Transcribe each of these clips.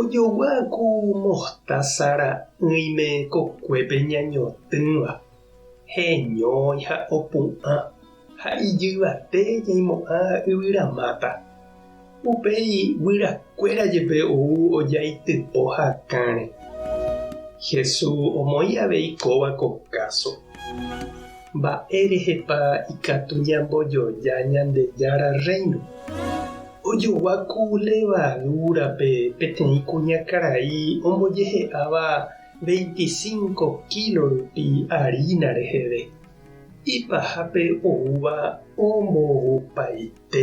Ojogua ku mohtása ra'ỹime kokuépe ñañotỹva, heñói ha opu'ã, ha ijyvate ñaimo'ã yvyramáta. Upéi guyrakuéra jepe ou ojaitypo hakãre. Jesús omoĩ avei kóva ko káso. Mba'érehepa ikatu ñambojoja Ñandejára Rréino? Ojogua ku levadúrape peteĩ kuñakarai ombojehe'áva veintisiñko kílo rupi arína reheve. Ipahápe oúva ombohoupái. pe.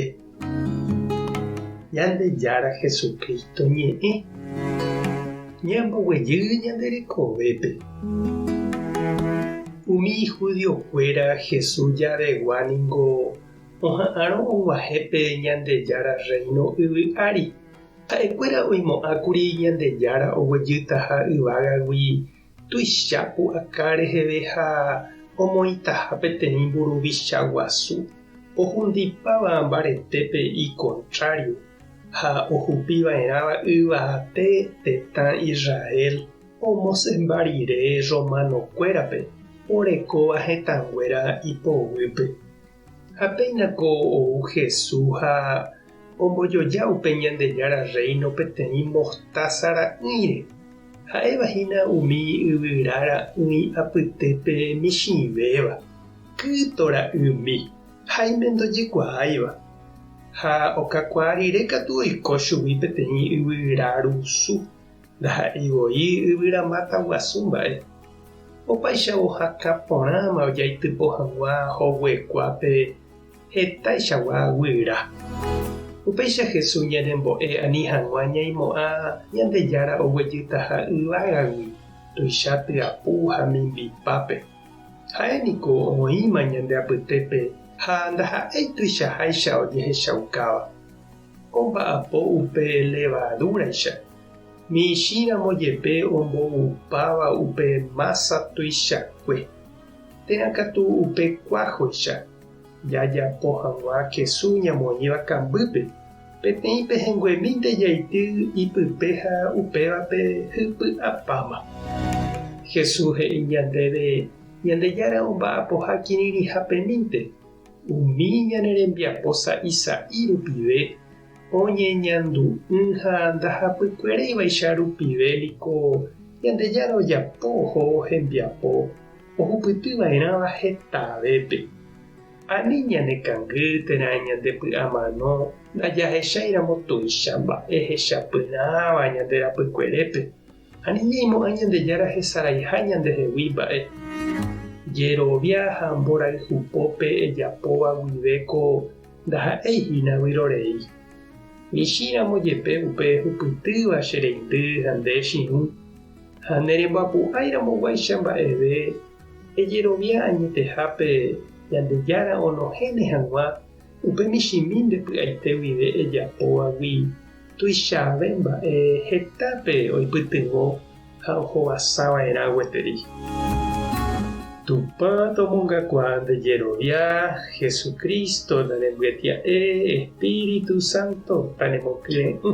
Ñandejára Jesucristo ñe'ẽ ñamboguejy ñande rekovépe. Umi judiokuéra Jesús jaregua ningo oha'ãrõ oguahẽ pe Ñandejára Rréino yvy ári. Ha'ekuéra oimo'ãkuri Ñandejára oguejytaha yvágagui Tuicha pu'aka reheve ha omoĩtaha peteĩ mburuvicha guasu ohundipáva mbaretépe ikontrário ha ohupiva'erãva yvate tetã Israel omosẽmba rire romanokuérape orekóva hetãnguéra ipoguýpe. Ha péina ko ou Hesu ha ombojoja upe Ñandejára Rréino peteĩ mostása ra'ỹire, ha'éva hína umi yvyra ra'ỹi apytépe michĩvéva, kyto ra'ymi ha imendojekuaáiva. Ha okakuaa rire katu oiko chugui peteĩ yvyra rusu. Ndaha'éi voi yvyramáta guasu mba'e. Opaichavo hakã porãma ojaitypo hag̃ua hoguekuápe hetaichagua guyra. Upéicha Jesús ñanembo'e ani hag̃ua ñaimo'ã Ñandejára oguejytaha yvágagui, tuicha tyapu ha mimbipápe. Ha'e niko oĩma ñande apytépe ha ndaha'éi tuichaháicha ojehechaukáva. Omba'apo upe levadúraicha, michĩramo jepe omboupáva upe mása tuichakue. Térã katu upe kuájoicha, jajapo hag̃ua kesu ñamoĩva kambýpe, peteĩ pehẽnguemínte jaity ipype ha upévape hypy'apáma. Jesús he'i ñandéve Ñandejára omba'apoha kirirĩhapemínte. Umi ñane rembiapo sa'i sa'i rupive oñeñandu'ỹ ha ndahapykuereivaicha rupive niko Ñandejára ojapo oho hembiapo ohupytyva'erãva hetavépe. Ani ñanekangy térã ñandepy'amano ndajahecháiramo tuicha mba'e hechapyrãva ñande rapykuerépe. Ani ñaimo'ã Ñandejára hesaraiha ñandehegui mba'e jerovia ha mborayhu pópe ejapóva guive ko ndaha'éi hína vyrorei. Michĩramo jepe upe ehupytýva che reindy ha nde echirũ, ha ne remboapu'ãiramoguáicha mba'eve ejerovia añetehápe Ñandejára onohẽne hag̃ua Upe michĩmi nde py'aite guive ejapovagui tuichave mba'e hetápe oipytyvõ ha ohovasa va'erã gueteri. Tupã tomongakuaa nde jerovia, Hesu Crísto, nde rembyetia'e, Espíritu Santo, ta nemokyre'ỹ.